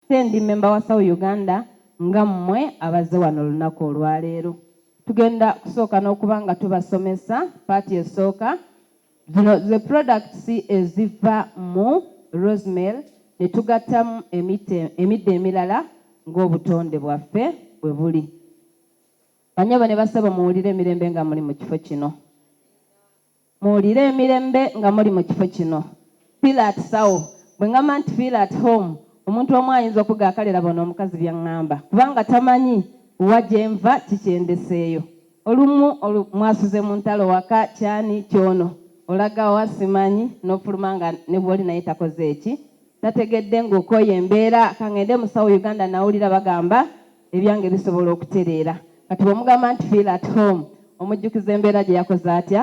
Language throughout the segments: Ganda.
Nze ndi member wa Saw Uganda nga mmwe abazze wano olunaku olwaleero. Tugenda kusooka n'okuba nga tubasomesa part esooka. Zino ze products eziva mu Rosemary ne tugattamu emitte emiddo emirala ng'obutonde bwaffe bwe buli. Banyabo ne bassebo muwulire emirembe nga muli mu kifo kino. Muwulire emirembe nga muli mu kifo kino. Feel at sawo. Bwe ngamba nti feel at home, omuntu omu ayinza okuga kale laba ono omukazi byangamba. Kubanga tamanyi wa gye nva, ki kye ndeseeyo. Olumu olu, mwasuze mu ntalo waka, ky'ani, ky'ono, olaga wa, simanyi, n'ofuluma nga ne gw'oli naye takoze ki, Nategedde nga okooye embeera kangende musawo Uganda nawulira bagamba ebyange bisobola okutereera kati bwomugamba nti feel at home omujjukiza embeera gyeyakoze atya?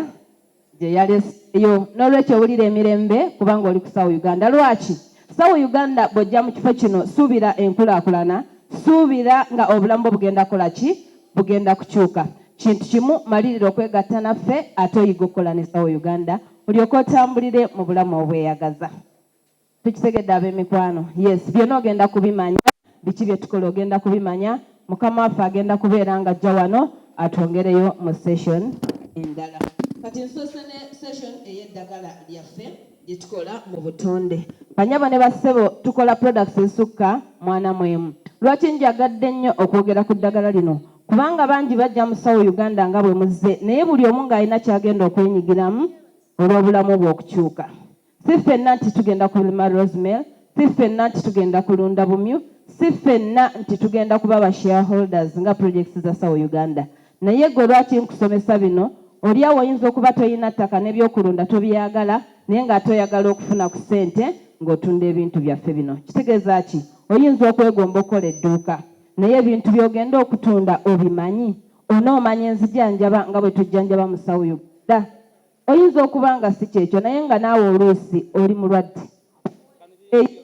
gyeyaleseeyo nolwekyo wulira emirembe kubanga oli kusawo Uganda lwaki? Sawo Uganda bwojja mukifo kino suubira enkulakulana suubira nga obulamu bwo bugenda kola ki? bugenda kukyuka kintu kimu malirira okwegatta naffe ate oyige okukola ne sawo Uganda olyoke otambulire mubulamu obweyagaza. tukitegedde abemikwano yes byona ogenda kubimanya biki byetukola ogenda kubimanya mukama waffe agenda kubeera nga ajja wano atwongereyo mu session endala kati nsoose ne session eyeddagala lyaffe lyetukola mu butonde banyabo ne bassebo tukola products esukka mwana mwemu lwaki njagadde nnyo okwogera ku ddagala lino kubanga bangi bajja musawo uganda nga bwe muzze naye buli omu ng'alina kyagenda okwenyigiramu olw'obulamu bwe okukyuka si ffenna nti tugenda kulima rosemel si ffenna nti tugenda kulunda bumyu si ffenna nti tugenda kuba ba shareholders nga projects za sawo uganda naye gwe lwaki nkusomesa bino oli awo oyinza okuba tolina ttaka n'ebyokulunda tobyagala naye nga ate oyagala okufuna ku ssente ng'otunda ebintu byaffe bino kitegeeza ki oyinza okwegomba okukola edduuka naye ebintu by'ogenda okutunda obimanyi onoomanya enzijanjaba nga bwe tujjanjaba musawo uganda Oyinza okuba nga si kyekyo naye nga naawe oluusi oli mulwadde. Owandiikireyo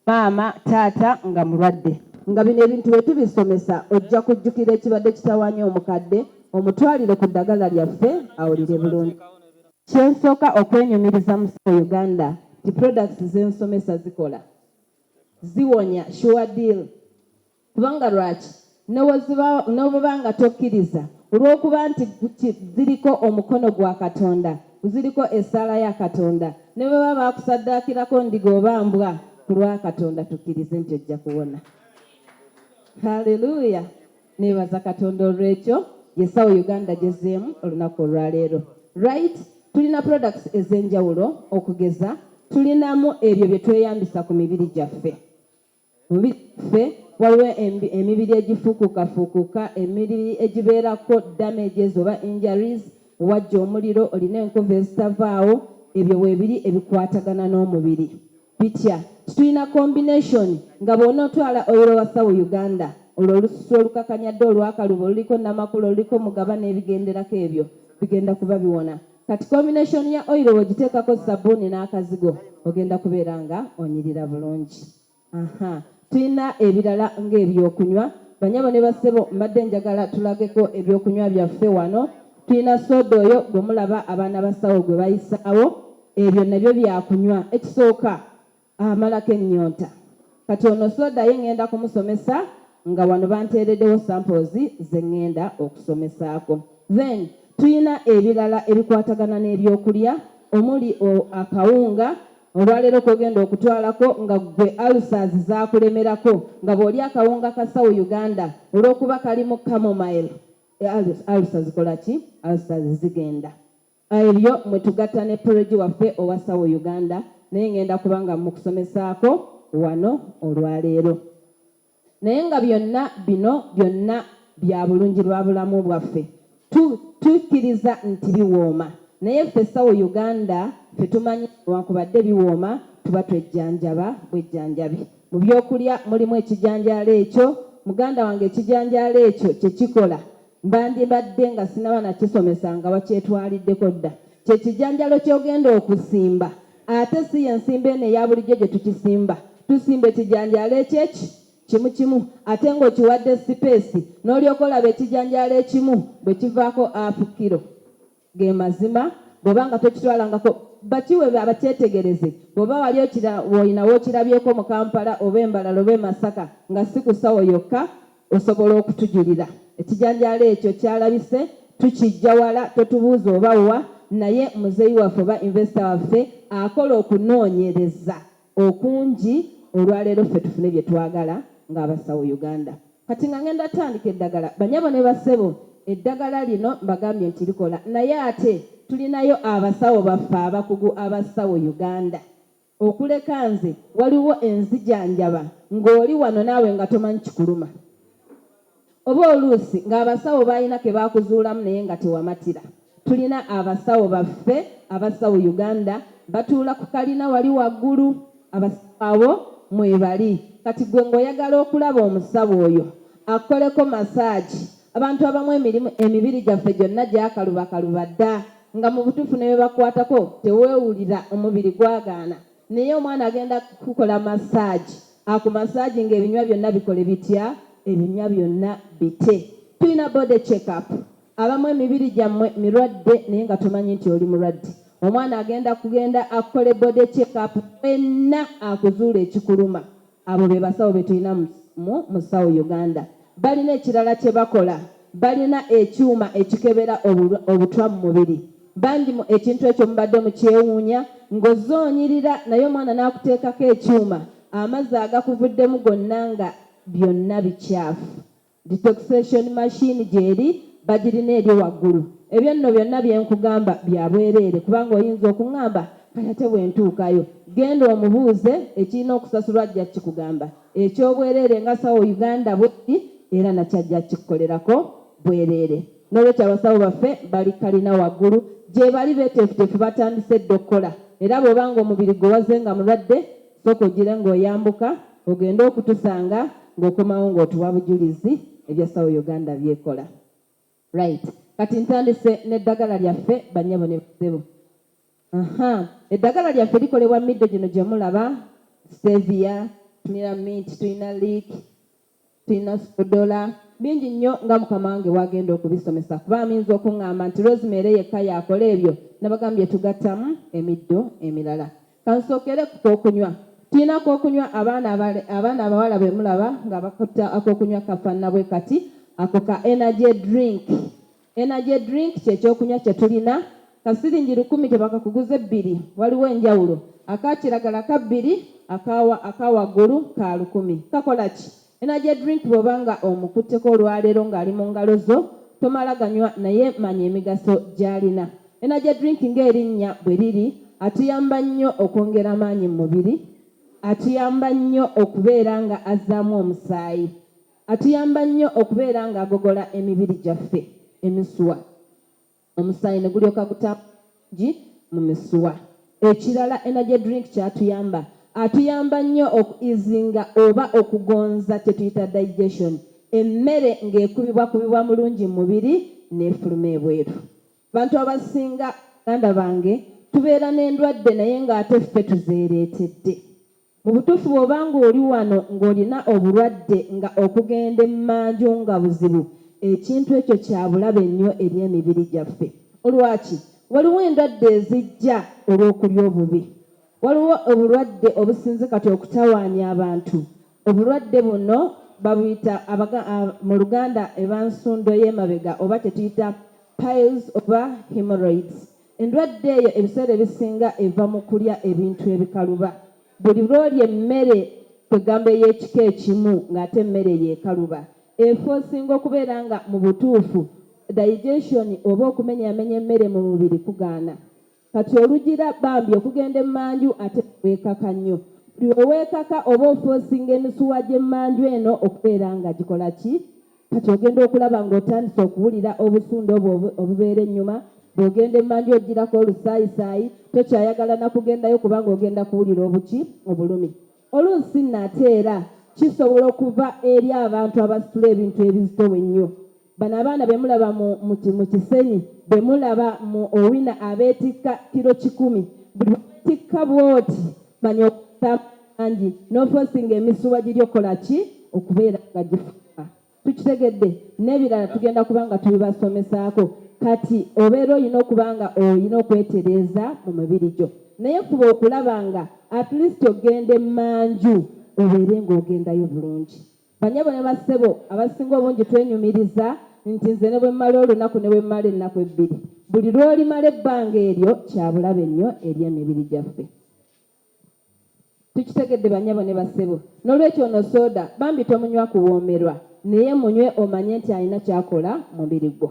maama, taata nga mulwadde. Nga bino ebintu bwe tubisomesa ojja kujjukira ekibadde kitawaanya omukadde omutwalire ku ddagala lyaffe awulire bulungi. Kye nsooka okwenyumiriza mu Sawo Uganda nti products ze nsomesa zikola. Ziwonya sure deal. Kubanga lwaki n'obweba nga tokkiriza, olw'okuba nti ziriko omukono gwa Katonda, ziriko essaala ya Katonda, ne bwe baba baakusaddaakirako ndiga oba mbwa, ku lwa Katonda tukkirize nti ojja kuwona. Haleluya! Neebaza Katonda olw'ekyo. Yesawo Uganda gyezzeemu olunaku olwaleero. Right? Tulina products ez'enjawulo okugeza tulinamu ebyo bye tweyambisa ku mibiri gyaffe. Ffe waliwo emibiri egifuukukafuukuka, emibiri egibeerako damages oba injuries, wajja omuliro, olina enkovu ezitavaawo, ebyo weebiri ebikwatagana n'omubiri. Bitya? Nti tulina combination nga bw'onootwala oil wa Thaw Uganda, olwo olususu olukakanyadde olw'akalubo, oluliko Namakula, oluliko Mugaba n'ebigenderako ebyo bigenda kuba biwona. Kati combination ya oil wogiteekako sabbuuni n'akazigo ogenda kubeera nga onyirira bulungi. Aha, tulina ebirala ng'ebyokunywa. Banyabo ne bassebo mbadde njagala tulageko ebyokunywa byaffe wano. Tulina sooda oyo gwe mulaba abaana basawo gwe bayisaawo. Ebyo nabyo byakunywa. Ekisooka amalako ennyonta kati ono soda ye ngenda kumusomesa nga wano banteereddewo samples ze ngenda okusomesaako then tulina ebirala ebikwatagana n'ebyokulya omuli akawunga olwaleero kogenda okutwalako nga gwe alsas zakulemerako nga bwoli akawunga ka south uganda olwokuba kalimu camomile alsa zikolaki alsas zigenda Ebyo mwe tugatta ne Pologi waffe owa Sawo Uganda naye ngenda kuba nga mmukusomesaako wano olwaleero. Naye nga byonna bino byonna bya bulungi bwa bulamu bwaffe tukkiriza nti biwooma naye ffe Sawo Uganda ffe tumanyi newankubadde biwooma tuba twejjanjaba bwejjanjabi. Mu byokulya mulimu ekijanjaalo ekyo muganda wange ekijanjaalo ekyo kye kikola. mbandibadde nga sinaba nakisomesa nga wakyetwaliddeko dda kye kijanjalo kyogenda okusimba ate si yensimba eno eya bulijjo gye tukisimba tusimba ekijanjalo ekyeki kimu kimu ate ng'okiwadde sipeesi n'olyoka olaba ekijanjalo ekimu bwe kivaako afu kiro Ge mazima, bw'oba nga tokitwalangako bakiwe bakyetegereze bw'oba wali okira, olina w'okirabyeko mu Kampala oba e Mbarara oba e Masaka nga si ku ssawo yokka osobola okutujulira. Ekijanjaalo ekyo kyalabise tukiggya wala totubuuza oba wa naye muzeeyi waffe oba investor waffe akola okunoonyereza. okunji olwaleero ffe tufune byetwagala nga abasawo Uganda Kati nga ngenda tandika eddagala banyabo ne bassebo eddagala lino mbagambye nti likola naye ate tulinayo abasawo baffe abakugu abasawo Uganda okuleka nze waliwo enzijanjaba ngoli wano naawe nga tomanyi kikuluma. Oba oluusi ng'abasawo baalina ke baakuzuulamu naye nga tewamatira. Tulina abasawo baffe abasawo Uganda batuula ku kalina wali waggulu. Abasawo abo mwebali. Kati ggwe ng'oyagala okulaba omusawo oyo akukoleko masaagi. Abantu abamu emirimu emibiri gyaffe gyonna gyakalubakaluba dda nga mu butuufu ne bwe bakukwatako teweewulira, omubiri gwagaana. Naye omwana agenda kukukola massage aku massage nga ebinywa byonna bikole bitya ebinywa byonna bite tuyina body check up abamu emibiri gyammwe mirwadde naye nga tomanyi nti oli mulwadde omwana agenda kugenda akukole body check up fenna akuzuule ekikuluma Abo bebasawo betulina mu musawo Uganda. Balina ekirala kyebakola. Balina ekyuma ekikebera obutwa mu mubiri. Bangi mu ekintu ekyo mubadde mukyewuunya ngozze onyirira naye omwana nakuteekako ekyuma amazzi agakuvuddemu gonna nga byonna bikyafu. Detoxation machine gyeri bagirina eri waggulu. Ebyo nno byonna bye nkugamba bya bwereere kubanga oyinza okungamba kati ate bwe ntuukayo. Genda omubuuze ekirina okusasulwa ajja kukigamba eky'obwereere nga sawo Uganda bweri era nakyo ajja kukikolerako bwereere. N'olwekyo abasawo baffe bali kkalina waggulu gyebali beteefuteefu batandise dda okukola era bw'oba ng'omubiri gwo wazze nga mulwadde, Soka ojile nga oyambuka ogende okutusanga nga okomawo nga otuwa bujulizi ebya sawa Uganda byekola right kati ntandise ne dagala lyaffe banyabo ne basebo aha edagala lyaffe likolebwa middo gino gyemulaba stevia tulina mint tulina leek Sirina sipodola bingi nnyo nga mukama wange bwagenda okubisomesa kuba amyinza okungamba nti Rosemary yekka y'akola ebyo nabagambye tugattamu emiddo emirala. Kansookere ku k'okunywa. Tulina k'okunywa abaana abaana abawala be mulaba nga bakutte ak'okunywa kafaanana bwe kati ako ka energy drink. Energy drink kye kyokunywa kye tulina. Ka siringi lukumi tebakakuguze bbiri, waliwo enjawulo. Aka kiragala ka bbiri, aka, aka waggulu ka lukumi. Kakola ki? Energy drink bw'oba nga omukutteko olwaleero ng'ali mu ngalo zo, tomala ganywa naye manya emigaso gy'alina. Energy drink ng'erinnya bwe liri, atuyamba nnyo okwongera amaanyi mu mubiri, atuyamba nnyo okubeera nga azzaamu omusaayi. Atuyamba nnyo okubeera ng'agogola emibiri gyaffe, emisuwa, omusaayi ne gulyoka gutambula bulungi mu misuwa. Ekirala Energy Drink ky'atuyamba, atuyamba nnyo oku easinga oba okugonza kye tuyita digestion, emmere ng'ekubibwakubibwa mulungi mu mubiri n'efuluma ebweru. Abantu abasinga baganda bange tubeera n'endwadde naye ng'ate ffe tuzeereetedde. Mu butuufu bw'oba ng'oli wano ng'olina obulwadde nga okugenda emmanju nga buzibu, ekintu ekyo kya bulabe nnyo eri emibiri gyaffe. Lwaki? Waliwo endwadde ezijja olw'okulya obubi. Waliwo obulwadde obusinze kati okutawaanya abantu. Obulwadde buno babuyita mu Luganda eba nsundo y'emabega oba kye tuyita piles oba hemorrhoids. Endwadde eyo ebiseera ebisinga eva mu kulya ebintu ebikaluba. Buli lw'olya emmere kwegamba ey'ekika ekimu ng'ate emmere eyo ekaluba, efa osinga okubeera nga mu butuufu digestion oba okumenyaamenya emmere mu mubiri kugaana. Kati olugira bambi okugenda emmanju ate ne weekaka nnyo. Buli lwe weekaka oba ofa osinga emisuwa gy'emmanju eno okubeera nga gikola ki? Kati ogenda okulaba ng'otandise okuwulira obusunda obwo obubeera ennyuma. Bw'ogenda emmanju ojjirako olusaayisaayi, tokyayagala na kugendayo kubanga ogenda kuwulira obuki? Obulumi. Oluusi nate era kisobola okuva eri abantu abasitula ebintu ebizito ennyo. Bano abaana be mulaba mu, mu, mu Kisenyi, be mulaba mu Owina abeetikka kiro kikumi. Buli lwe weetikka bw'oti manya okutama. bangi n'ofosinga emisuwa giri okukola ki okubeera nga gifuka tukitegedde n'ebirala tugenda kuba nga tubibasomesaako kati obeera olina okuba nga olina okwetereeza mu mibiri gyo naye fuba okulaba nga at least ogenda emanju obeere ng'ogendayo bulungi banyabo ne bassebo abasinga obungi twenyumiriza nti nze ne bwe mmala olunaku ne bwe mmala ennaku ebbiri buli lw'olimala ebbanga eryo kyabulabe nnyo eri emibiri gyaffe Tukitegedde banyabo ne bassebo nolwekyo ono soda bambi tomunywa kuwoomerwa naye munywe omanye nti alina kyakola mumubiri gwo.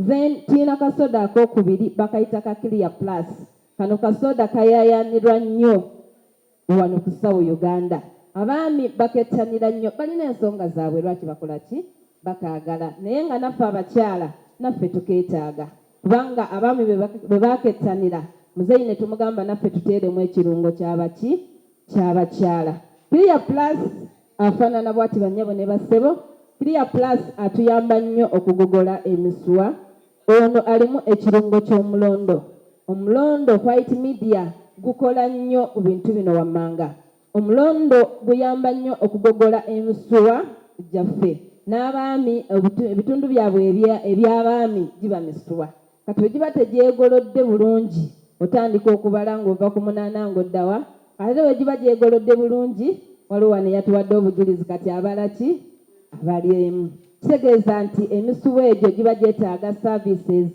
Then tuyina ka soda akokubiri bakayita ka clear plus kano ka soda kayayanirwa nnyo wano ku Sawo Uganda abaami bakettanira nnyo balina ensonga zabwe lwaki bakola ki bakaagala naye nga naffe abakyala naffe tukeetaaga. Kubanga abaami bwe bakettanira muzeeyi ne tumugamba naffe tuteeremu ekirungo kyaba ki ky'abakyala. Clear Plus afaanana bwati bannyabo ne bassebo. Clear Plus atuyamba nnyo okugogola emisuwa. Ono alimu ekirungo ky'omulondo. Omulondo White Media gukola nnyo ku bintu bino wammanga. Omulondo guyamba nnyo okugogola emisuwa gyaffe n'abaami ebitundu byabwe eby'abaami giba misuwa. Kati bwe giba tegyegolodde bulungi otandika okubala ng'ova ku munaana ng'odda wa? Ate bwe giba gyegolodde bulungi, waliwo wano eyatuwadde obujulizi kati abala ki? balyemu. Kitegeeza nti emisuwa egyo giba gyetaaga services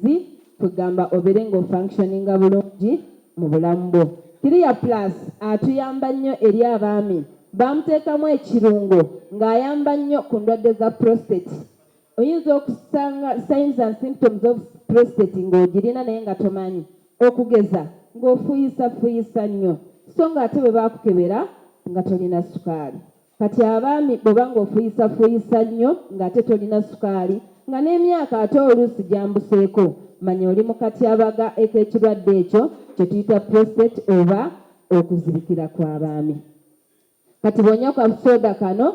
kwegamba obeere nga ofunctioninga bulungi mu bulamu bwo. Clear Plus atuyamba nnyo eri abaami, baamuteekamu ekirungo ng'ayamba nnyo ku ndwadde za prostate. Oyinza okusanga signs and symptoms of prostate ng'ogirina naye nga tomanyi. Okugeza ng'ofuuyisafuyisa nnyo so ng'ate bwe bakukebera nga tolina sukaali. Kati abaami bwoba nga ofuyisa fuyisa nyo nga ate tolina sukaali nga nemyaka ate oluusi gyambuseeko manya oli mukatyabaga ekekirwadde ekyo kyetuyita prostate oba okuzibikira kwabaami kati bwonywa ka soda kano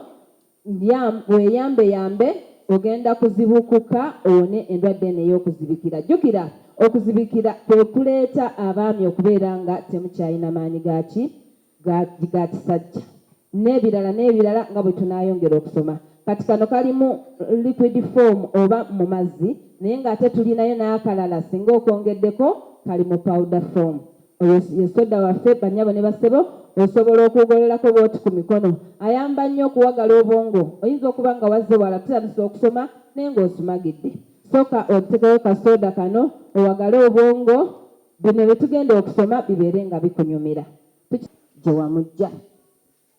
weyambe yambe ogenda kuzibukuka owone endwadde eno eyokuzibikira jukira okuzibikira kwekuleeta abaami okubeera nga temukyalina maanyi gaki ga ga kisajja n'ebirala n'ebirala nga bwe tunaayongera okusoma kati kano kali mu liquid form oba mu mazzi naye ng'ate tulinayo n'akalala singa okwongeddeko kali mu powder form oyo ye soda waffe banyabo ne basebo osobola okugololako bwoti ku mikono ayamba nnyo okuwagala obwongo oyinza okuba nga wazze wala tutandisa okusoma naye ng'osumagidde soka otekewo kasoda kano owagale obwongo Bino bye tugenda okusoma bibeere nga bikunyumira. Tuki. Gye wamujja.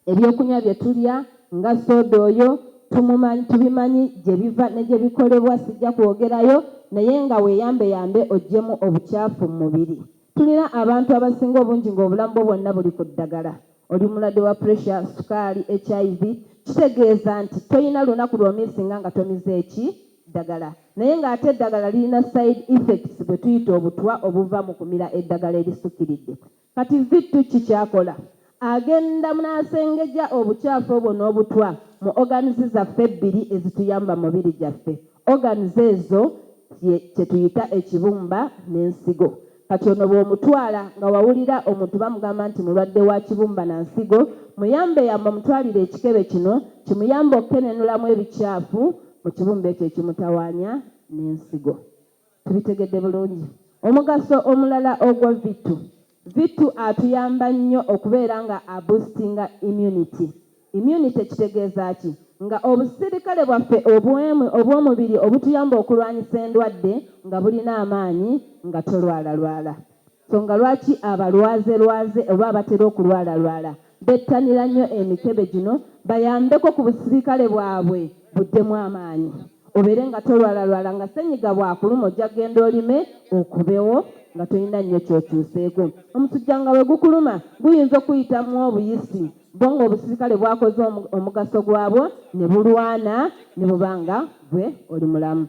Ebyokunywa bye tulya, nga sooda oyo, tumumanyi, tubimanyi gye biva ne gye bikolebwa, sijja kwogerayo, naye nga weeyambeyambe oggyemu obucaafu mu mubiri. Tulina abantu abasinga obungi ng'obulamu bwo bwonna buli ku ddagala. Oli mulwadde wa pressure, sukaali, HIV. Kitegeeza nti tolina lunaku lw'omiisinga nga tomize ki? ddagala naye nga ate eddagala lirina side effects bwetuyita obutwa obuva mu kumira eddagala erisukiridde. Kati Vittu ki kyakola? Agenda nasengeja obukyafu obwo n'obutwa mu organs zaffe ebbiri ezituyamba mubiri gyaffe. Organs ezo ye kyetuyita ekibumba n'ensigo. Kati ono bw'omutwala nga wawulira omuntu bamugamba nti mulwadde wa kibumba na nsigo, muyambe yamba omutwalire ekikebe kino kimuyambe okukenenulamu ebikyafu mu kibumba ekyo ekimutawaanya n'ensigo. Tubitegedde bulungi? Omugaso omulala ogwa Vitu, Vitu atuyamba nnyo okubeera nga a boostinga immunity. Immunity kitegeeza ki? Nga obusirikale bwaffe obwemwi obw'omubiri obutuyamba okulwanyisa endwadde nga bulina amaanyi nga tolwalalwala. Nsonga lwaki abalwazerwaze oba abatera okulwalalwala bettanira nnyo emikebe gino bayambeko ku busirikale bwabwe buddemu amaanyi. Obeere nga tolwalalwala nga ssennyiga bw'akuluma ojja kugenda olime okubewo nga tolina nnyo ky'okyuseeko. Omusujja nga bwe gukuluma guyinza okukuyitamu obuyisi bwo ng'obusirikale bwakoze omugaso gwabwo ne bulwana ne buba nga ggwe oli mulamu.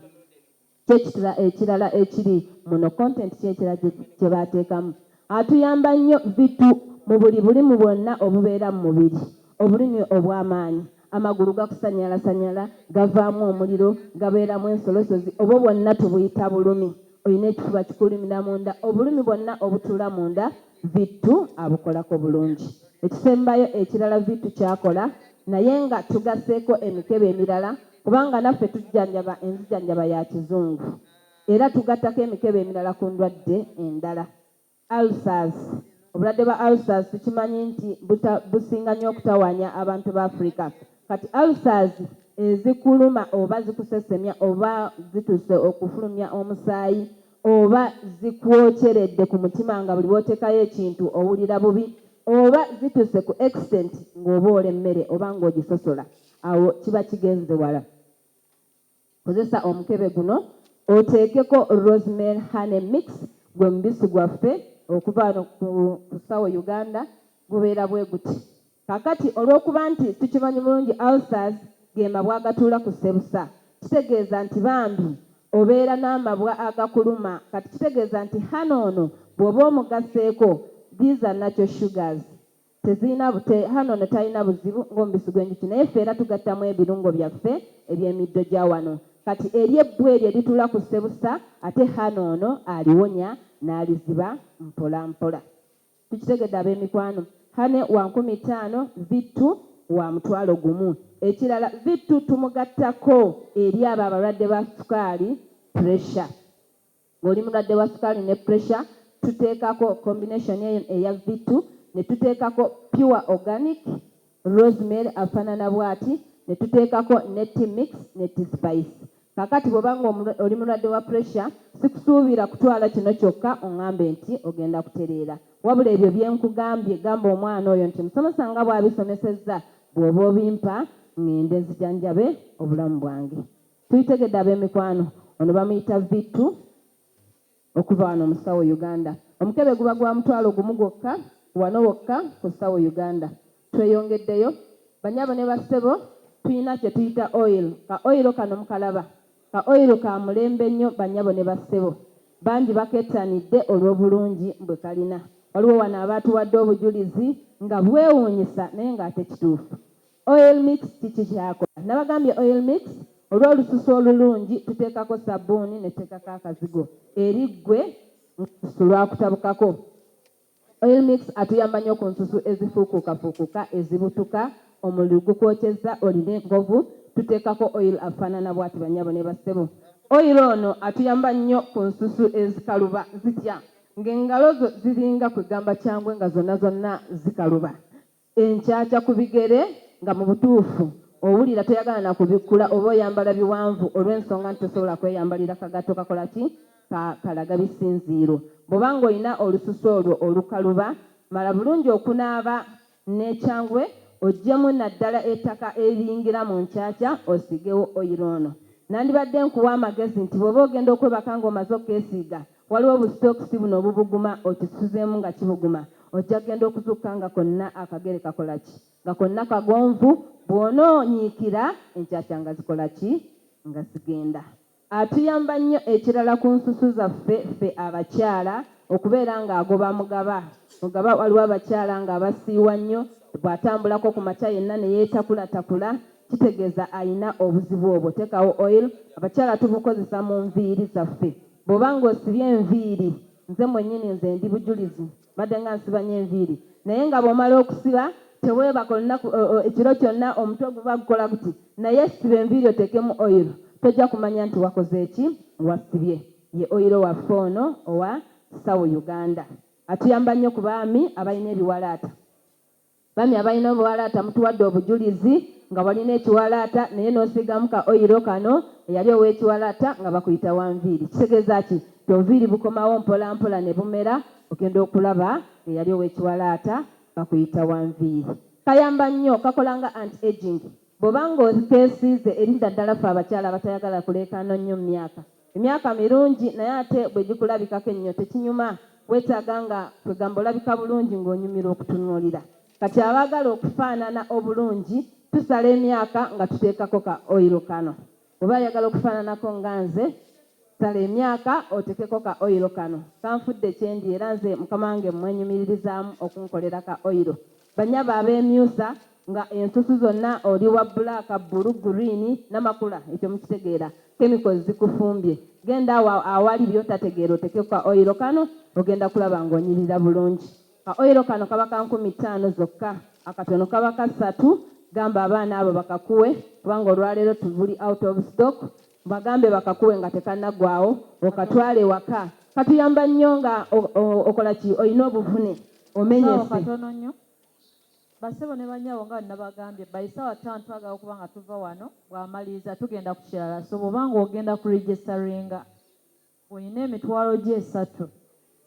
Ky'ekitla ekirala ekiri muno content ki ekirala kye baateekamu? Atuyamba nnyo vitu mu buli bulimu bwonna obubeera mu mubiri, obulimi obw'amaanyi, Amagulu gakusanyalasanyala, gavaamu omuliro, gabeeramu ensolosozi, obwo bwonna tubuyita bulumi. Olina ekifuba kikulimira munda, obulumi bwonna obutuula munda Vittu abukolako bulungi. Ekisembayo ekirala Vittu ky'akola naye nga tugasseeko emikebe emirala kubanga naffe tujjanjaba enzijanjaba ya Kizungu era tugattako emikebe emirala ku ndwadde endala. Ulcers, Obulwadde bwa ulcers tukimanyi nti buta businga nnyo okutawanya abantu ba Africa. Kati ulcers ezikuluma oba zikusesemya oba zituuse okufulumya omusaayi oba zikwokyeredde ku mutima nga buli lw'oteekayo ekintu owulira bubi oba zituuse ku extent ng'oboola emmere oba ng'ogisosola awo kiba kigenze wala. Kozesa omukebe guno oteekeko Rosemary Honey Mix gwe mubisi gwaffe okuva wano ku Sawo Uganda gubeera bwe guti. Kaakati olw'okuba nti tukimanyi bulungi ulcers ge mabwa agatuula ku ssebusa kitegeeza nti bambi obeera n'amabwa agakuluma kati kitegeeza nti honey ono bw'oba omugasseeko these are natural sugars Tezirina bute hhano ono talina buzibu ng'omubisi gw'enjuki naye ffe era tugattamu ebirungo byaffe eby'emiddo gya wano kati eri ebbu eryo erituula ku ssebusa ate hhano ono aliwonya n'aliziba mpolampola. Tukitegedde abeemikwano? Hhane wa nkumi ttaano, Vittu wa mutwalo gumu. Ekirala Vittu tumugattako eri abo abalwadde ba sukaali, pressure. Ng'oli mulwadde wa sukaali ne puresha, tuteekako combination eyo eya V2, ne tuteekako pure organic rosemary afaanana bw'ati, ne tuteekako ne tea mix ne tea spice. Kaakati bw'oba ng'oli mulwadde wa puresha, sikusuubira kutwala kino kyokka ongambe nti ogenda kutereera. Wabula ebyo bye nkugambye gamba omwana oyo nti musomesa nga bw'abisomesezza bw'oba obimpa ng'ende nzijanjabe obulamu bwange. Tuyitegedde abemikwano ono bamuyita Vittu okuva wano mu Sawo Uganda. Omukebe guba gwa mutwalo gumu gwokka wano wokka ku Sawo Uganda. Tweyongeddeyo banyabo ne ba ssebo tuyina kyetuyita oil ka oil kano mukalaba ka oil ka mulembe nnyo banyabo ne ba ssebo bangi bakettanidde olwobulungi bwe kalina. Waliwo wano abaatuwadde obujulizi nga bwewunyisa naye nga ate kituufu. Oil mix kiki kyakola? Nabagambye oil mix olwolususu olulungi tutekako sabuuni netekako akazigo eri gwe nga olususu lwakutabukako. Oil mix atuyamba nyo ku nsusu ezifuukuukafuukuka, ezibutuka, omululu gukwokyezza, olina enkovu, tutekako oil afanana bwati banyabo ne bassebo. Oil ono atuyamba nyo ku nsusu ezikaluba zitya nga engalo zo ziringa kwegamba kyangwe nga zonna zonna zikaluba. Enkyakya ku bigere nga mu butuufu owulira toyagala na kubikkula oba oyambala biwanvu olw'ensonga nti tosobola kweyambalira kagatto kakola ki? ka kalaga bisinziiro. Bw'oba ng'olina olususu olwo olukaluba, mala bulungi okunaaba n'ekyangwe oggyemu naddala ettaka eriyingira mu nkyakya osiigewo oyiro. Ono nandibadde nkuwa amagezi nti bw'oba ogenda okwebaka ng'omaze okukeesiiga, Waliwo bu stocks buno obubuguma okisuzemu nga kibuguma ojja genda okuzukka nga konna akagere kakola ki? Nga konna kagonvu bwona onyiikira enkyakya nga zikola ki? Nga zigenda. Atuyamba nnyo ekirala ku nsusu zaffe ffe abakyala okubeera nga agoba mugaba mugaba waliwo abakyala nga abasiiwa nnyo bwatambulako ku makya yenna ne yeetakulatakula kitegeeza alina obuzibu obwo tekawo oil abakyala tubukozesa mu nviiri zaffe Bwoba nga osibye enviiri, nze mwenyini nze ndi bujulizi mbadde nga nsiba nyo enviiri naye nga bwomala okusiba tewebaka olunaku ekiro kyonna omutwe guba gukola guti naye siba enviiri otekemu oil tojja kumanya nti wakoze ki wasibye ye oil waffe ono owa Sawo Uganda atuyamba nyo ku baami abalina ebiwalaata. Bambi abalina obuwalaata mutuwadde obujulizi nga walina ekiwalaata naye nosiigamu ka oyiro kano eyali owekiwalaata nga bakuyita wanviiri kitegeza ki nti obuviiri bukomawo mpola mpola nebumera ogenda okulaba nga eyali owekiwalaata bakuyita wanviiri kayamba nnyo kakola nga anti aging bwoba nga okesiize erinda ddala ffe abakyala abatayagala kuleekaana nnyo mumyaka Emyaka mirungi naye ate bwegikulabikako ennyo tekinyuma, wetaaga nga kwegamba olabika bulungi ng'onyumirwa okutunuulira. Kati abaagala okufaanana obulungi tusala emyaka nga tuteekako ka oil kano. Bwoba oyagala okufaananako nga nze, sala emyaka otekeko ka oil kano. Kanfudde kyendi era nze mukama wange mmwenyumiririzaamu okunkolera ka oil. Banyabo abemyusa nga ensusu zonna oli wa black, bbulu, green namakula ekyo mukitegeera chemicals zikufumbye genda awo awali byotategeera otekeko ka oil kano ogenda kulaba nga onyirira bulungi ka oil kano kaba ka nkumi ttaano zokka akatono kaba ka ssatu gamba abaana abo bakakuwe kubanga olwaleero tubuli out of stock Bagambe bakakuwe nga tekanaggwaawo okatwale ewaka. Katuyamba nnyo nga okola ki? Olina obuvune, omenyese. Ssebo katono nnyo. Bassebo ne bannyabo nga bwe nabagambye, by ssaawa ttaano twagala okuba nga tuva wano. Bw'amaliriza tugenda ku kirala. So bw'oba nga ogenda ku registaringa. Olina emitwalo gyo esatu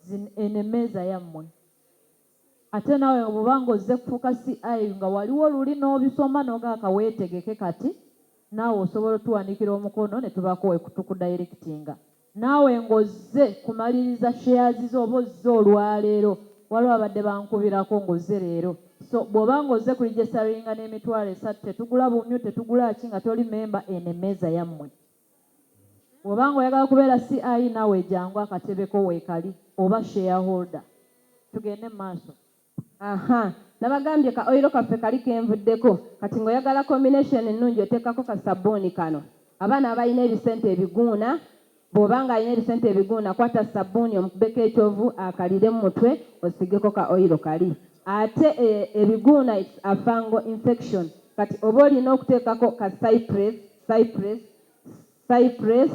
zin eno emmeeza yammwe. Ate naawe bw'oba nga ozze kufuuka CI nga waliwo luli n'obisoma n'ogaka weetegeke kati naawe osobola otuwandiikira omukono ne tubaako we tukudayirekitinga. Naawe ng'ozze kumaliriza shares zo oba ozze olwaleero, waliwo ababadde bankubirako ng'ozze leero. So bw'oba ng'ozze kulijesitaringa n'emitwalo esatu tetugula bumyu, tetugula ki nga toli memba, eno emmeeza yammwe. Bwoba nga oyagala kubeera CI nawe jangu akatebe ko wekali oba share holder. Tugende mumaaso. Ahaa nabagambye ka oil kaffe kali kenvuddeko kati nga oyagala combination ennungi oteekako ka ssabbuuni kano abaana abalina ebisente ebiguuna bwoba nga alina ebisente ebiguuna kwata ssabbuuni omukubeko ekyovu akalire mumutwe osiigeko ka oil kali ate ebiguuna it's a fungal infection kati oba olina okuteekako ka cypress Cypress, Cypress,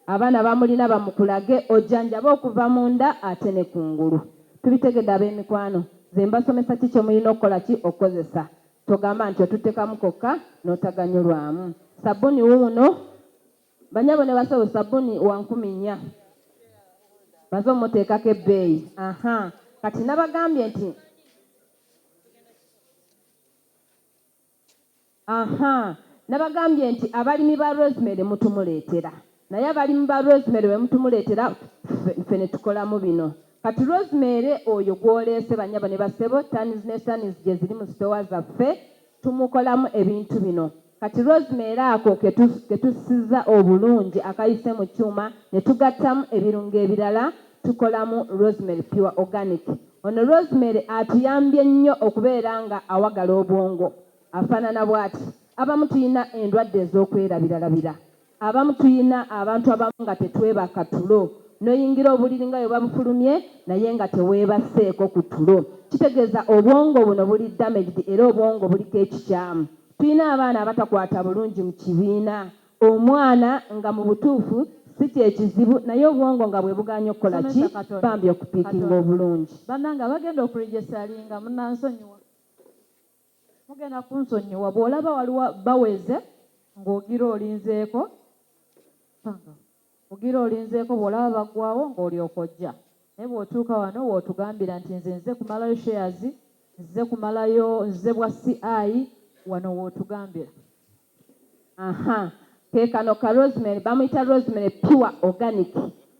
abaana bamulina bamukulage ojanjabe okuva munda ate ne kungulu tubitegede abemikwano nze mbasomesa ki kyemulina okukola ki okukozesa togamba nti otutekamu kokka notaganyulwamu sabuni wuuno banyabo ne basawo sabuni wankumi nya maze omutekako ebbeeyi aha kati nabagambye nti Ahaa nabagambye nti abalimi ba rosemary mutumuletera naye abalimu ba rosemary bwemutumuletera ffe netukolamu bino kati rosemary oyo gwoleese banyabo ne bassebo tons ne tons gyeziri mu sitowa zaffe tumukolamu ebintu bino kati rosemary ako ketussiza obulungi akayise mu kyuma netugattamu ebirungo ebirala tukolamu rosemary pure organic Ono Rosemary atuyambye nnyo okubeera nga awagala obwongo. Afanana bwati, Abamu tuyina endwadde ezokwerabiralabira. Abamu tuyina abantu abamu nga tetwebaka tulo. Noyingira obuliri nga webabufulumye naye nga tewebaseeko ku tulo. Kitegeeza obwongo buno buli damaged era obwongo buliko ekikyamu. Tuyina abaana abatakwata bulungi mu kibiina. Omwana nga mubutuufu si kyekizibu naye obwongo nga bwebugaanyi okukola ki bambi okupikinga obulungi. Banange abagenda okuregesalinga munansonyiwa mugenda kunsonyiwa bwolaba waliwo baweze ngogira olinzeeko. Mugira olinzeeko bwolaba baggwawo ng'olyoka ojja naye bwotuuka wano wotugambira nti nze nze kumalayo shares nzize kumalayo nzize bwa CI wano wotugambira. Ahaa kekano ka rosemary bamuyita rosemary pure organic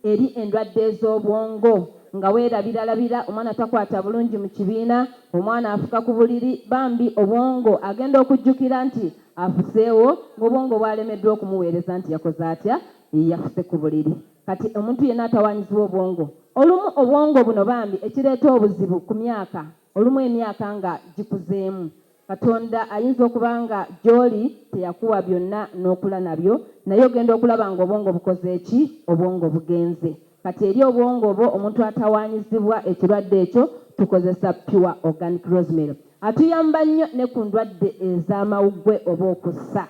eri endwadde ezobwongo nga werabira labira omwana takwata bulungi mukibiina omwana afuka kubuliri bambi obwongo agenda okujjukira nti Afuseewo ng'obwongo bwalemeddwa okumuweereza nti yakoze atya? Yafuse ku buliri. Kati omuntu yenna atawaanyizibwa obwongo, olumu obwongo buno bambi ekireeta obuzibu ku myaka, olumu emyaka nga gikuzeemu. Katonda ayinza okuba nga gy'oli teyakuwa byonna n'okula nabyo, naye ogenda okulaba ng'obwongo bukoze ki? Obwongo bugenze. Kati eri obwongo bwo omuntu atawanyizibwa ekirwadde ekyo tukozesa Pure Organic Rosemary. Atuyamba nnyo ne ku ndwadde ez'amawuggwe oba okussa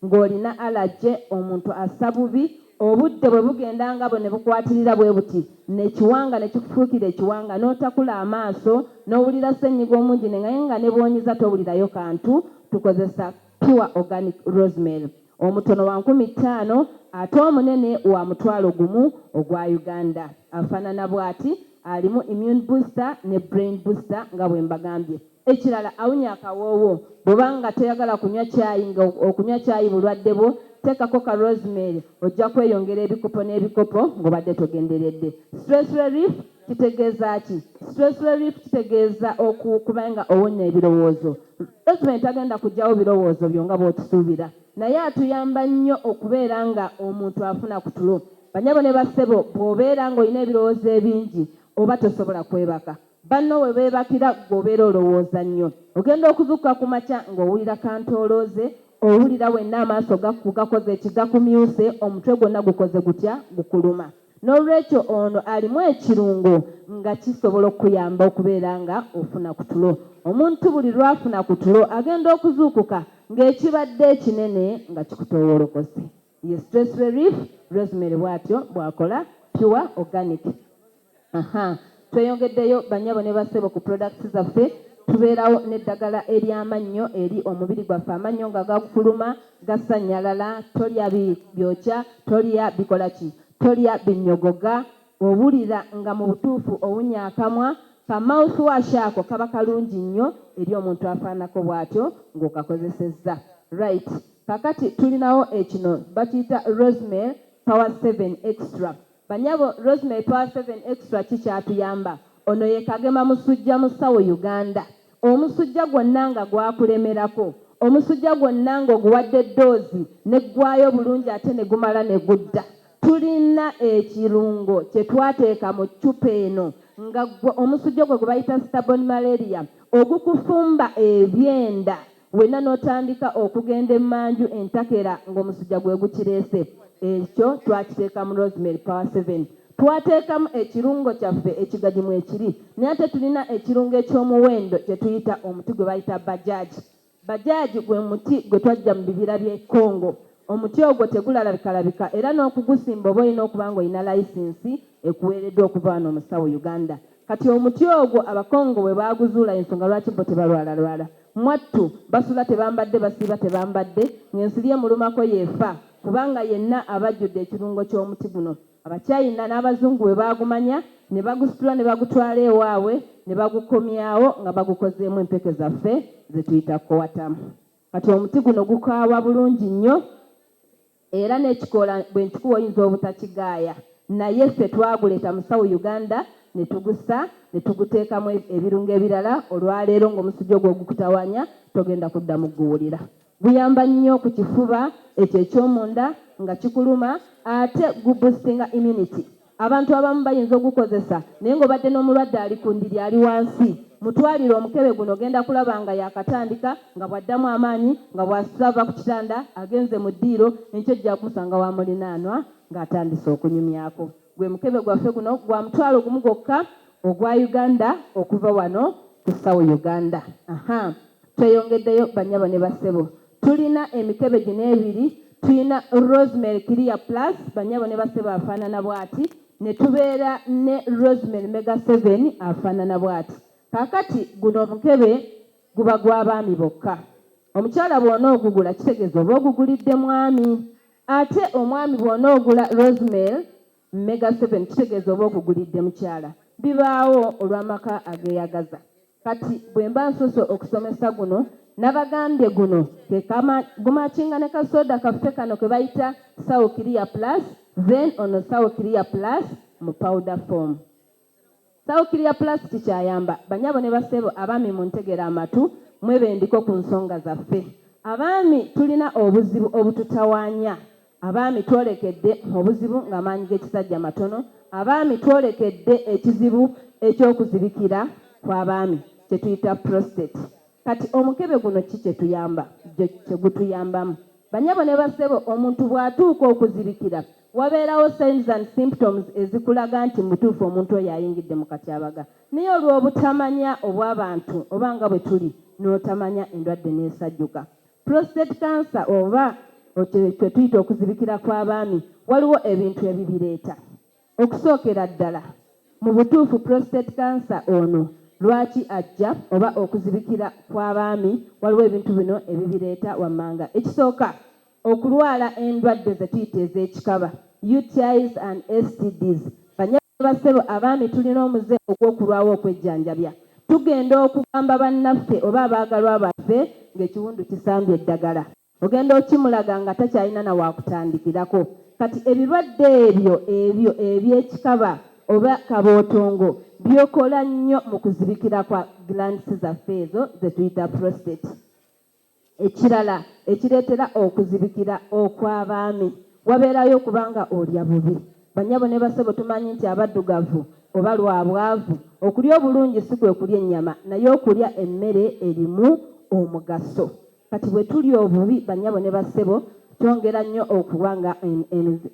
ng'olina alaje, omuntu assa bubi, obudde bwe bugenda nga bwe ne bukwatirira bwe buti n'ekiwanga ne kikufuukira ekiwanga n'otakula amaaso n'owulira ssennyiga omungi ne naye nga ne bw'onyiza towulirayo kantu tukozesa Pure Organic Rosemary omutono wa nkumi ttaano ate omunene wa mutwalo gumu ogwa Uganda. Afaanana bwati, alimu immune booster ne brain booster nga bwe mbagambye. Ekirala awunya akawoowo. Bw'oba nga toyagala kunywa caayi nga okunywa caayi bulwadde bwo, teekako ka Rosemary ojja kweyongera ebikopo n'ebikopo ng'obadde togenderedde. Stress Relief kitegeeza ki? Stress Relief kitegeeza okuba nga owonnya ebirowoozo. Gavumenti tagenda kuggyawo birowoozo byo nga bw'okisuubira, naye atuyamba nnyo okubeera nga omuntu afuna ku tulo. Bannyabo ne bassebo bw'obeera ng'olina ebirowoozo ebingi oba tosobola kwebaka. Banno bwe beebakira ggwe obeera olowooza nnyo. Ogenda okuzuukuka ku makya ng'owulira kantoolooze, owulira wenna amaaso gakugakoze ki, gakumyuse, omutwe gwonna gukoze gutya, gukuluma. N'olwekyo ono alimu ekirungo nga kisobola okukuyamba okubeera nga ofuna ku tulo. Omuntu buli lw'afuna ku tulo agenda okuzuukuka ng'ekibadde ekinene nga kikutoowolokose. Ye Stress Relief Rosemary bw'atyo bw'akola, Pure Organic. Ahaa. Tweyongeddeyo bannyabo ne bassebo ku products zaffe, tubeerawo n'eddagala ery'amannyo eri omubiri gwaffe, amannyo nga gakufuluma, gasannyalala, tolya bi byokya, tolya bikola ki, tolya binnyogoga, owulira nga mu butuufu owunya akamwa, ka mouth wash ako kaba kalungi nnyo eri omuntu afaanako bwatyo ng'okakozesezza. Right. Kaakati tulinawo ekino bakiyita Rosemary Power Seven Extra. Banyabo Rosemary twa seven extra ki kyatuyamba Ono ye kagema musujja musawo Uganda omusujja gwonna nga gwakulemerako omusujja gwonna nga oguwadde ddoozi neggwayo bulungi ate negumala negudda tulina ekirungo kyetwateeka mu ccupa eno nga gwo omusujja ogwo gwebayita stubborn malaria ogukufumba ebyenda wenna n'otandika okugenda emmanju entakera ng'omusujja gwe gukireese. Ekyo twakiteeka mu Rosemary Power Seven. Twateekamu ekirungo kyaffe ekigagi mwekiri naye ate tulina ekirungo eky'omuwendo kye tuyita omuti gwe bayita Bajaj. Bajaj gwe muti gwe twaggya mu bibira by'e Congo. Omuti ogwo tegulalabikalabika era n'okugusimba oba olina okuba ng'olina layisinsi ekuweereddwa okuva wano omusawo Uganda. Kati omuti ogwo Abakongo bwe baaguzuula y'ensonga lwaki bo tebalwalalwala. Mwattu basula tebambadde basiiba tebambadde ng'ensiri emulumako y'efa kubanga yenna aba ajjudde ekirungo ky'omuti guno. Abachina n'Abazungu bwe baagumanya ne bagusitula ne bagutwala ewaabwe ne bagukomyawo nga bagukozeemu empeke zaffe ze tuyita Coatam. Kati omuti guno gukaawa bulungi nnyo. Era nekikola bwenkikuwa oyinza obutakigaaya naye ffe twaguleeta mu South Uganda netugusa netuguteekamu ebirungo ebirala olwaleero ngomusujja ogwo ogukutawanya togenda kuddamu kuguwulira. Guyamba nnyo ku kifuba ekyo ekyomunda nga kikuluma ate gu boostinga immunity. Abantu abamu bayinza ogukozesa naye ng'obadde n'omulwadde ali ku ndiri ali wansi. Mutwalire omukebe guno ogenda kulaba nga yaakatandika nga bw'addamu amaanyi nga bw'asuse ava ku kitanda agenze mu ddiiro enkya ojja kumusanga wa mulinaanwa ng'atandise okunyumyako. Gwe mukebe gwaffe guno gwa mutwalo gumu gwokka ogwa Uganda okuva wano ku Sawo Uganda. Ahaa! Tweyongeddeyo bannyabo ne bassebo. Tulina emikebe gino ebiri, tulina Rosemary Clear Plus, bannyabo ne bassebo afaanana bw'ati, ne tubeera ne Rosemary Mega Seven afaanana bw'ati. Kaakati, guno omukebe guba gwa baami bokka. Omukyala bw'onoogugula, kitegeeza oba ogugulidde mwami. Ate omwami bw'onoogula Rosemary Mega seven kitegeeza oba okugulidde mukyala. Bibaawo olw'amaka ageyagaza. Kati bwemba nsoose okusomesa guno nabagambye guno ke kama gumakinga ne ka soda kaffe kano kebayita sawo clear plus then ono sawo clear plus mu powder form. Sawukiri ya pulasitiki ayamba banyabo ne bassebo abaami muntegere amatu mwebendiko ku nsonga zaffe. Abaami tulina obuzibu obututawaanya. Abaami twolekedde obuzibu ng'amaanyi g'ekisajja matono. Abaami twolekedde ekizibu eky'okuzibikira kw'abaami kye tuyita prostate. Kati omukebe guno ki kye tuyamba, kye gutuyambamu? Banyabo ne bassebo omuntu bw'atuuka okuzibikira Wabeerawo signs and symptoms ezikulaga nti mubutuufu omuntu oyo ayingidde mu katyabaga naye olw'obutamanya obw'abantu oba nga bwe tuli n'otamanya endwadde n'esajjuka. Prostate cancer oba kye tuyita okuzibikira kw'abaami waliwo ebintu ebibireeta. Okusookera ddala mu butuufu prostate cancer ono lwaki ajja oba okuzibikira kw'abaami waliwo ebintu bino ebibireeta wammanga. Ekisooka Okulwala endwadde ze tuyita ez'ekikaba, UTIs and STDs. Bannyabo ne bassebo abaami tulina omuze ogw'okulwawo okwejjanjabya. Tugenda okugamba bannaffe oba abaagalwa baffe ng'ekiwundu kisambye eddagala. Ogenda okimulaga nga takyalina na waakutandikirako. Kati ebirwadde ebyo ebyo eby'ekikaba oba kabootongo byokola nnyo mu kuzibikira kwa glands zaffe ezo ze tuyita prostate. Ekirala ekireetera okuzibikira okw'abaami wabeerayo okuba nga olya bubi. Bannyabo ne bassebo tumanyi nti abaddugavu oba lwa bwavu, okulya obulungi si kwe kulya ennyama naye okulya emmere erimu omugaso. Kati bwe tulya obubi bannyabo ne bassebo kyongera nnyo okuwa nga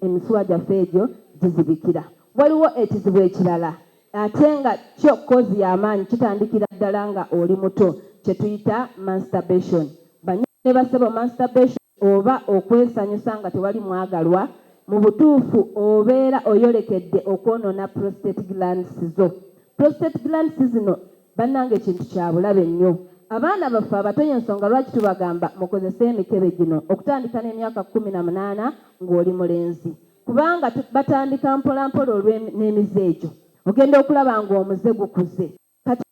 emisuwa gyaffe egyo gizibikira. Waliwo ekizibu ekirala Ate nga kyo kozi yamaanyi kitandikira ddala nga oli muto kyetuyita manstabation banyabo ne basebo manstabation oba okwesanyusa nga tewali mwagalwa mubutuufu obeera oyolekedde okwonona prostate glands zo prostate glands zino banange kintu kyabulabe nnyo abaana baffe abato yensonga lwaki tubagamba mukozese emikebe gino okutandika nemyaka kumi na munaana ngoli mulenzi Kubanga batandika mpola mpola olwe n'emize egyo ogenda okulaba nga omuze gukuze kati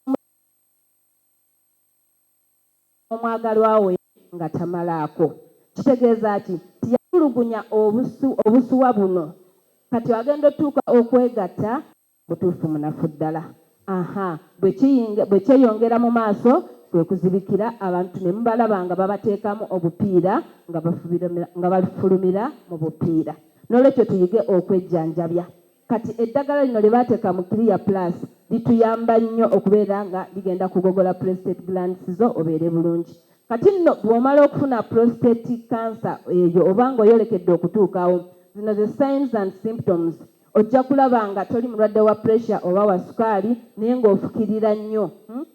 omwagalwa wo nga tamalaako kitegeeza ki nti yatulugunya obusu obusuwa buno kati agenda otuuka okwegatta Mutuufu munafu ddala. Ahaa bwekiyinga bwekyeyongera mu maaso kwekuzibikira abantu nemubalaba nga babateekamu obupiira nga bafubira nga bafulumira mu bupiira. Nolwekyo tuyige okwejjanjabya. Kati eddagala lino lyebaateeka mu clear plus lituyamba nnyo okubeera nga ligenda kugogola prostate glands zo obeere bulungi. Kati nno bwomala okufuna prostate cancer eyo oba nga oyolekedde okutuukawo, zino ze signs and symptoms Ojja kulaba nga toli mulwadde wa pressure oba wa sukaali naye nga ofukirira nnyo. Hmm?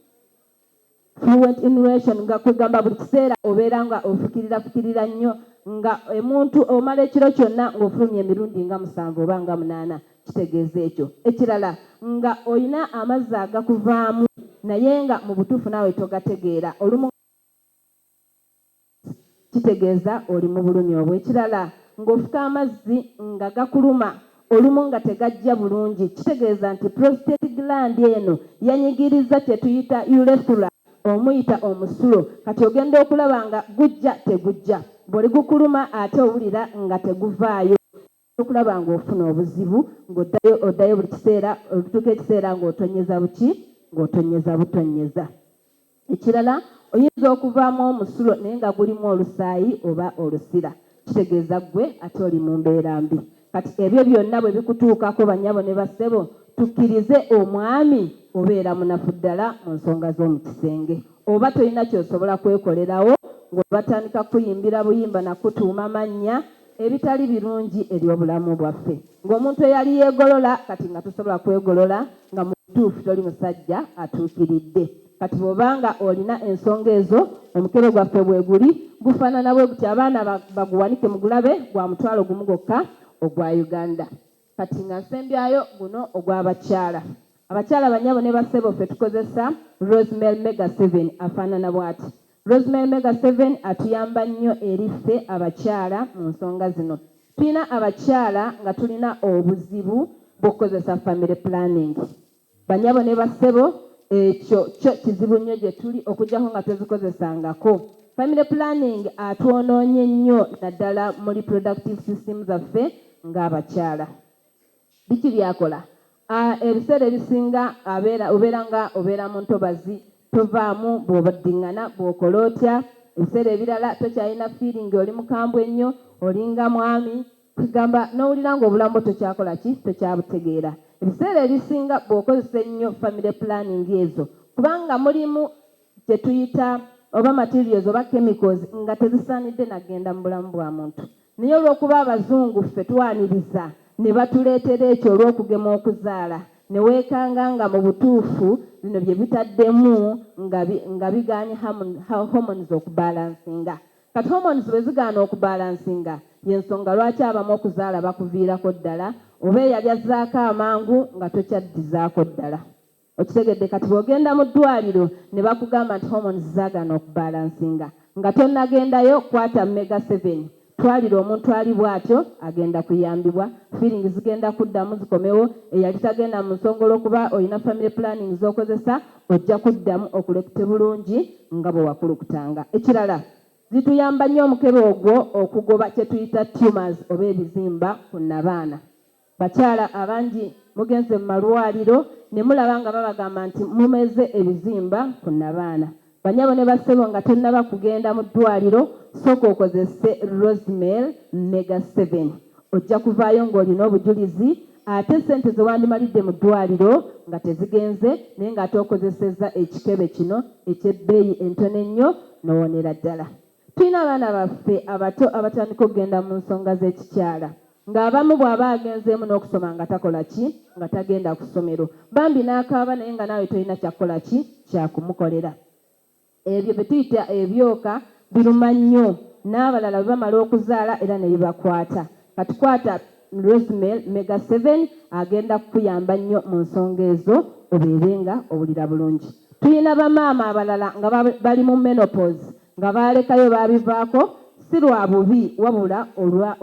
Fluent inhalation nga kwegamba buli kiseera obeera nga ofukirira fukirira nnyo nga emuntu omala ekiro kyonna ng'ofulumya emirundi nga musanvu oba nga munaana kitegeeza ekyo. Ekirala nga olina amazzi agakuvaamu naye nga mu butuufu naawe togategeera olumu kitegeeza oli mu bulumi obwo. Ekirala ng'ofuka amazzi nga gakuluma olumu nga tegajja bulungi kitegeeza nti prostate gland eno yanyigirizza kye tuyita urethra omuyita omusulo kati ogenda okulaba nga gujja tegujja. Bw'oligukuluma ate owulira nga teguvaayo. Tokulaba ng'ofuna obuzibu ng'oddayo oddayo buli kiseera olutuuka ekiseera ng'otonnyeza buki ng'otonnyeza butonnyeza. Ekirala oyinza okuvaamu omusulo naye nga gulimu olusaayi oba olusira kitegeeza ggwe ate oli mu mbeera mbi. Kati ebyo byonna bwe bikutuukako bannyabo ne bassebo tukkirize omwami obeera munafu ddala mu nsonga z'omu kisenge oba tolina ky'osobola kwekolerawo ng'olwo batandika kukuyimbira buyimba na kukutuuma mannya ebitali birungi eri obulamu bwaffe. Ng'omuntu eyali yeegolola, kati nga tosobola kwegolola, nga mu butuufu toli musajja atuukiridde. Kati bw'oba nga olina ensonga ezo, omukebe gwaffe bweguli, gufaanana bwe guti, abaana baguwanike mugulabe, gwa mutwalo gumu gwokka ogwa Uganda. Kati nga nsembyayo guno ogwa bakyala. Abakyala banyabo ne bassebo ffe tukozesa Rosemel Mega Seven afaanana bwati. Rosemel Mega Seven atuyamba nnyo eri ffe abakyala mu nsonga zino. Tulina abakyala nga tulina obuzibu bw'okukozesa family planning. Banyabo ne bassebo ekyo kyo kizibu nnyo gye tuli okujjako nga tozikozesangako. Family planning atwonoonye nnyo naddala mu reproductive system zaffe nga abakyala. Biki byakola? A, Ebiseera ebisinga abeera obeera nga obeera mu ntobazi, tovaamu, bw'oddingana, bw'okola otya, ebiseera ebirala tokyalina feeling oli mukambwe nnyo, olinga mwami, Kigamba n'owulira ng'obulamu tokyakola ki, tokyabutegeera. Ebiseera ebisinga bw'okozesa ennyo family planning ezo kuba nga mulimu kye tuyita oba materials oba chemicals nga tezisaanidde na kugenda mu bulamu bwa muntu. Naye olw'okuba Abazungu ffe twaniriza ne batuleetera ekyo olw'okugema okuzaala ne weekanga nga mu butuufu bino bye bitaddemu nga nga bigaanye hormones okubalansinga. Kati hormones bwe zigaana okubalansinga y'ensonga lwaki abamu okuzaala bakuviirako ddala oba eyali azzaako amangu nga tokyaddizaako ddala. Okitegedde? Kati bw'ogenda mu ddwaaliro ne bakugamba nti hormones zaagaana okubalansinga nga tonnagendayo, kwata Mega Seven twalira omuntu ali bw'atyo agenda kuyambibwa, feeling zigenda kuddamu zikomewo, eyali tagenda mu nsonga olw'okuba olina family planning z'okozesa, Ojja kuddamu okulekute bulungi nga bwe wakulukutanga. Ekirala, zituyamba nnyo omukebe ogwo okugoba kye tuyita tumors oba ebizimba ku nnabaana. Bakyala abangi mugenze mu malwaliro ne mulaba nga babagamba nti mumeze ebizimba ku nnabaana. Bannyabo ne bassebo nga tonnaba kugenda mu ddwaliro, sooka okozese Rosemel Mega Seven. Ojja kuvaayo ng'olina obujulizi ate ssente ze wandimalidde mu ddwaaliro nga tezigenze naye ng'ate okozesezza ekikebe kino eky'ebbeeyi entono ennyo n'owonera ddala. Tulina abaana baffe abato abatandika okugenda mu nsonga z'ekikyala ng'abamu bw'aba agenzeemu n'okusoma nga takola ki? Nga tagenda ku ssomero bambi n'akaaba naye nga naawe tolina kya kukola ki? Kya kumukolera. Ebyo bye tuyita ebyoka biruma nnyo n'abalala bwe bamala okuzaala era ne bibakwata. Kati kwata Rosemel Mega Seven agenda kukuyamba nnyo mu nsonga ezo obeere nga owulira bulungi. Tulina bamaama abalala nga bali mu menopause nga baalekayo baabivaako si lwa bubi wabula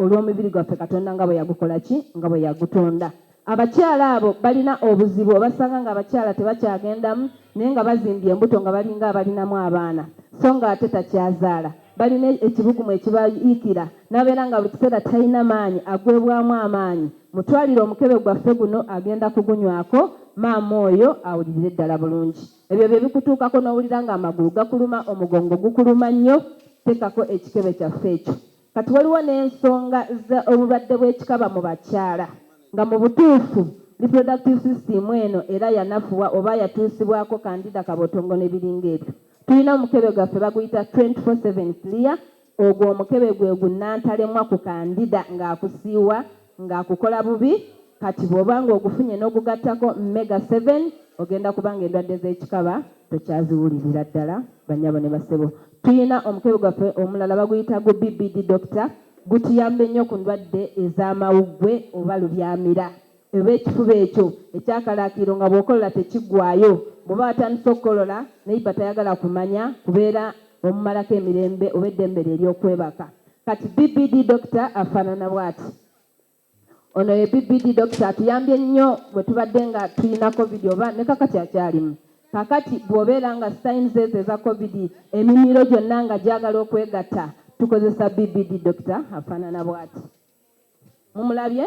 olw'omibiri gwaffe Katonda nga bwe yagukola ki? Nga bwe yagutonda. Abakyala abo balina obuzibu obasanga ng'abakyala tebakyagendamu naye nga bazimbye embuto nga balinga abalinamu abaana so ng'ate takyazaala. Balina ekibugumu ekibayiikira n'abeera nga buli kiseera talina maanyi agwebwamu amaanyi. Mutwalire omukebe gwaffe guno agenda kugunywako maama oyo awulirire ddala bulungi. Ebyo bye bikutuukako n'owulira ng'amagulu gakuluma, omugongo gukuluma nnyo, teekako ekikebe kyaffe ekyo. Kati waliwo n'ensonga za obulwadde bw'ekikaba mu bakyala nga mu butuufu reproductive system eno era yanafuwa oba yatuusibwako kandida kabotongo ne biringa ebyo. Tulina omukebe gwaffe baguyita twenty four seven clear ogwo omukebe gwe gu nantalemwa ku kandida ng'akusiiwa, nga akukola bubi kati bwoba nga ogufunye nogugattako mega seven ogenda kuba nga endwadde zekikaba tokyaziwulirira ddala banyabo ne bassebo tuyina omukebe gwaffe omulala baguyita gu BBD doctor gutuyamba ennyo ku ndwadde ezamawuggwe oba lubyamira oba ekifuba ekyo ekyakalaakiiro nga bwokolola tekiggwayo bwoba watandise okukolola neighbor tayagala kumanya kubeera omumalako emirembe oba eddembe lye eryokwebaka Kati BBD Doctor afanana bwati. Ono ye BBD Doctor atuyambye nnyo bwetubadde nga tulina covid oba ne kakati akyalimu. Kakati bwobeera nga signs ezo eza covid emimiro gyonna nga gyagala okwegatta tukozesa BBD Doctor afanana bwati. Mumulabye?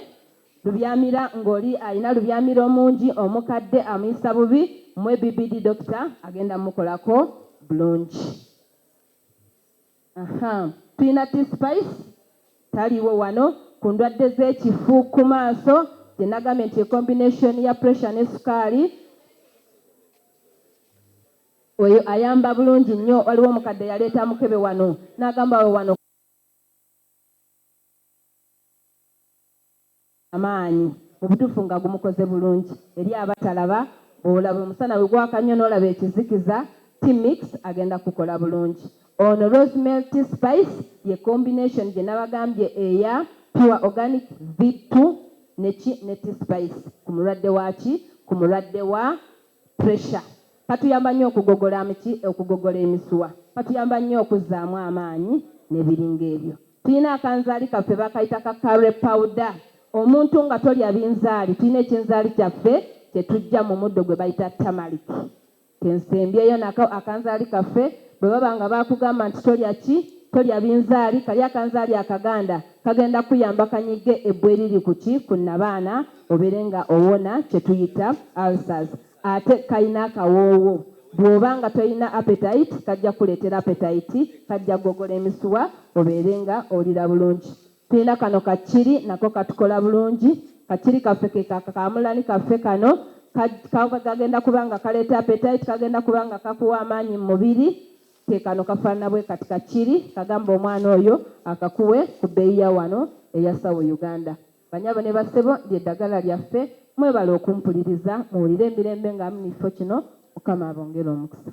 Lubyamira ngoli alina lubyamira omungi omukadde amuyisa bubi mwe BBD Doctor agenda mukolako bulungi. Ahaa peanut spice taliwo wano ku ndwadde z'ekifu ku maaso gye nagambye nti ye combination ya pressure ne sukaali oyo ayamba bulungi nnyo waliwo omukadde eyaleeta mukebe wano nagamba awo wano amaanyi mubutuufu nga gumukoze bulungi eri abatalaba bwolaba omusana wegwaka nnyo nolaba ekizikiza tea mix agenda kukukola bulungi ono rosemel tea spice ye combination gyenabagambye eya pure organic vittu ne ki ne tea spice kumulwadde wa ki kumulwadde wa pressure, katuyamba nnyo okugogola amiki, okugogola emisuwa, katuyamba nnyo okuzzaamu amaanyi nebiringa ebyo. Tulina akanzaali kaffe bakayita ka curry powder, omuntu nga tolya binzaali tulina ekinzaali kyaffe kyetujja mu muddo gwebayita turmeric kensembyeyo nako akanzaali kaffe bwebaba nga bakugamba nti tolya ki tolya binzaali kali akanzaali akaganda kagenda kuyamba kanyige ebbwa eriri ku ki ku nnabaana Obeere nga owona kyetuyita ulcers ate kalina akawoowo bwoba nga tolina appetite kajja kukuleetera appetite kajja kugogola emisuwa obeere nga owulira bulungi. Tulina kano ka chilli nako katukola bulungi ka chilli kaffe ke ka kaamulani kaffe kano kagenda kuba nga kaleeta appetite kagenda kuba nga kakuwa amaanyi mu mubiri ke kano kafaanana bwe kati ka chilli kagamba omwana oyo akakuwe ku bbeeyi ya wano eya Sawo Uganda. Banyabo ne bassebo lye dagala lyaffe mwebale okumpuliriza muwulire emirembe nga mnifo kino mukama abongere omukisa.